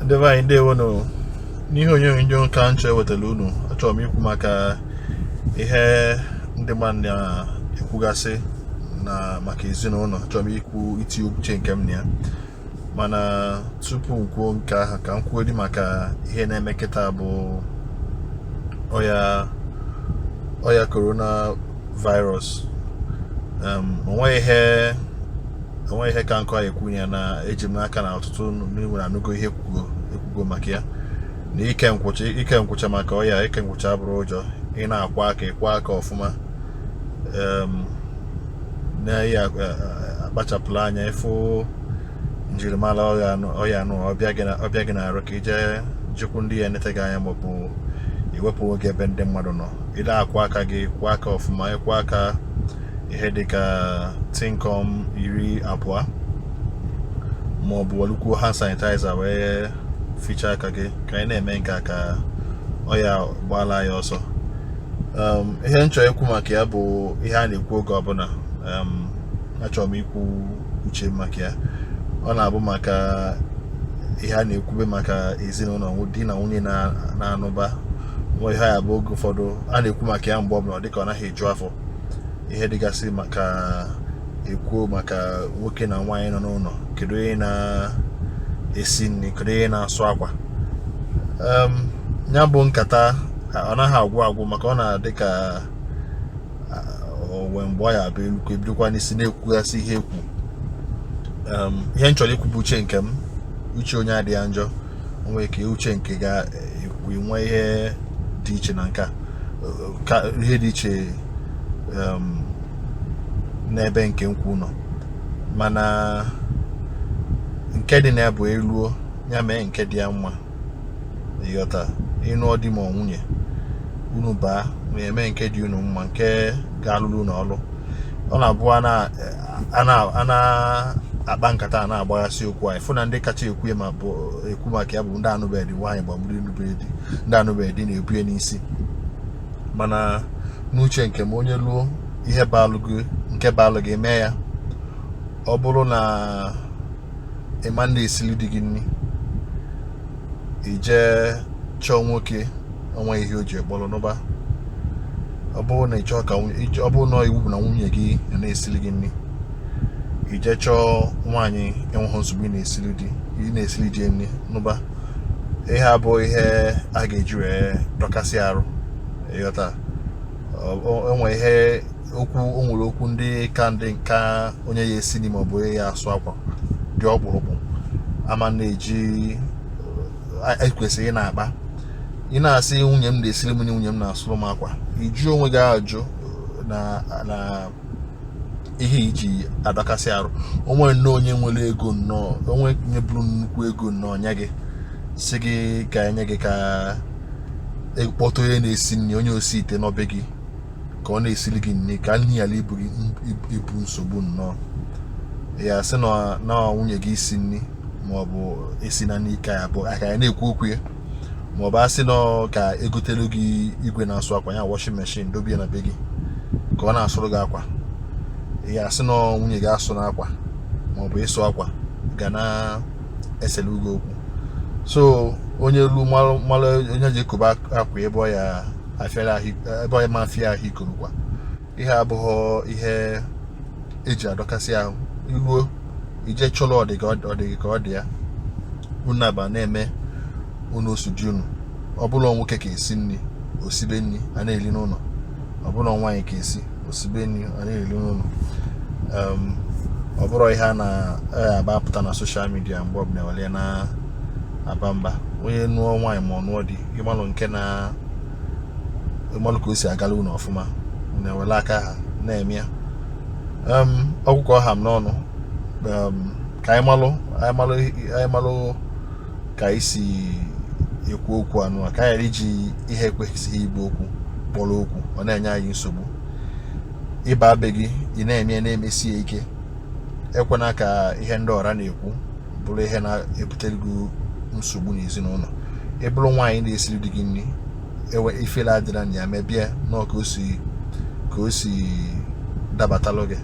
ndị be anyị ndewo nụ n'ihe onyonyo nke a m chọ iwetara unu achọrọ m ikwu maka ihe ndị mmadụ na-ekwugasị na maka ezinụlọ achọrọ m ikwu iti uche nke m na ya mana tupu m kwuo nke ahụ ka m kwuodị maka ihe na-eme kịta bụ ọya ọya korona virus um, onweghị ihe enweghị ihe ka nke a ya ekwu ya na eji m n'aka na ọtụtụ n'ime unu anụgo ihe ekwugo ekwugo maka ya na ike nkwụcha ike nkwụcha maka ọya ike nkwụcha abụrọ ụjọ ị na-akwọ aka ịkwọ aka ọfụma na ị ya akpachapụla anya ịfụ njirimara ọya anụ ọ bịa gị n'arụ ka i jee jekwu ndị ya enete gị anya maọbụ iwepụ onwe gị ebe ndị mmadụ nọ ị na-akwọ aka gị kwọ aka ọfụma ịkwọ aka ihe dịka tịnkọm iri abụọ ma ọ bụ welukwu hand sanitizer wee fichaa aka gị ka anyị na-eme nke a ka ọya gbaala anyị ọsọ um, ihe m chọ ikwu maka ya bụ ihe a na-ekwu oge ọbụla um, achọrọ m ikwu uche m maka ya ọ na-abụ maka ihe a na-ekwube maka ezinụlọ di na nwunye na-anụba nwa ihe ya bụ oge ụfọdụ a na-ekwu maka ya mgbe ọbụla dịka ọ naghị eju afọ ihe dịgasị maka e kwuo maka nwoke na nwaanyị nọ n'ụlọ kedu onye na-esi nri kedu onye na-asụ akwa ya bụ nkata ọ naghị agwụ agwụ maka ọ na-adị ka o nwee mgbe ọ ya abụ elukọ e bidokwa n'isi na-ekwugasị ihe ekwu ihe m chọrọ ikwu bụ uche nke m uche onye adịghị ya njọ o nwe ka uche nke gị ya enwe ihe dị iche na nke a ihe dị iche n'ebe nke m kwu nọ mana nke dị na ya bụ e luo ya mee nke dị ya mma ịghọta ị nụọ di ma nwunye unu baa unu mee nke dị unu mma nke ga-alụrụ unu ọlụ ọ na-abụ a na-akpa nkata a na-agbaghasị okwu anyị fụ na ndị kacha ekwu ma bụ ekwu maka ya bụ ndị anụbeghị nwaanyị ma ọ bụ anụbeghị di ndị anụbeghị di na-ebu ya n'isi mana n'uche nke m onye luo ihe baalụ gị nke baalụ gị mee ya ọ bụrụ na ị ma na-esili di gị nri i jee chọọ nwoke o nweghị ihe o ji ya kpọrọ nụba ọ bụrụ na ị chọọ ka ọ bụrụ na iwu bụ na nwunye gị na-esili gị nri i jee chọọ nwaanyị enweghị nsogbu ị na-esili di ị na-esili di nri nụba ihe a abụrọ ihe a ga-eji wee dọkasịa arụ ịghọta enwe ihe okwu o nwere okwu ndị ka ndị ka onye ya esi nri maọbụ onye ya asụ akwa dị ọkpụrụkpụ ama na-eji ekwesịrị ị na-akpa ị na-asị nwunye m na-esiri m nri nwunye m na-asụrụ m akwa ị jụ onwe gị ajụ na ihe ị ji adọkasị arụ o nwee nnọọ onye nwere ego nnọọ onye buru nnukwu ego nnọọ nye gị sị gị ka e nye gị ka e kpọta onye na-esi nri onye osi ite na be gị ka ọ na-esiri gị nri ka nri ghara ịbụ nsogbu nnọọ ị ya asị na nwunye gị isi nri maọbụ esina nri ka ya na-ekwu okwu ya maọbụ a sị nnọọ ka e gotelu gị igwe na-asụ akwa ya washing machine dobie na be gị ka ọ na-asụrụ gị akwa ị ya asị na nwunye gị asụna akwa maọbụ ịsụ akwa ga na-eselu gị okwu so onye lu malụ onye ji ekobe akwa ebe ọ ya ma afịa ahụ ikorokwa ihe abụghị ihe e ji adọkasị ahụ i ruo i je chọrọ ọ dị gị ka ọ dị ya unu aba na-eme unu o si dị unu ọ bụlụ nwoke ka esi nri o sibe nri a na-eri n'ụlọ ọ bụlụ nwaanyị ka esi o sibe nri a na-eri n'ụlọ ehm, ọ bụrọ ihe a na-aba apụta na social media mgbe ọbụla were na-aba mba onye nụọ nwaanyị ma ọ nụọ di ị malụ nke na ị malụ ka o si agalụ unu ọfụma unu ewere aka ahụ na-eme ya ọ bụ ka ọ ha m n'ọnụ ka anyị malụ anyị malụ ka anyị si ekwu okwu anụ a ka anyị ghara iji ihe ekwesịghị ịbụ okwu kpọrọ okwu ọ na-enye anyị nsogbu ị baa be gị ị na-eme ya na-emesi ya ike ekwena ka ihe ndị ọra na-ekwu bụrụ ihe na-ebutere gị nsogbu n'ezinụlọ ị bụrụ nwaanyị na-esiri di gị nri ifere adịrọ na ya mebe nnọọ ka o si dabatalụ gị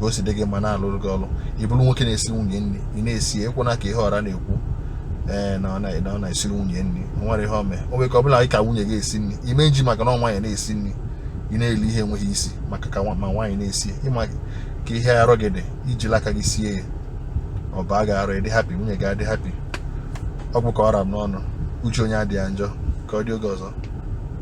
ka o si dị gị mma na-alụrụ gị ọrụ ị bụrụ nwoke na-esi nwunye nri ị na-esi ekwena ka ihe ọra na-ekwu ee eh, na ọ na-esiri nwunye nri o nwerọ ihe o me o nwere ka ọ bụla ka nwunye gị esi nri ime nji maka na nwaanyị na-esi nri ị na-eli ihe enweghị isi maka ka ma nwaanyị na-esi ị ma ka ihe arụ gị dị i jili aka gị sie ya ọ baa gị arụ ị dị happy nwunye gị adị happy ọ bụ ka ọ ra m n'ọnụ uche onye adị ya njọ ka ọ dị oge ọzọ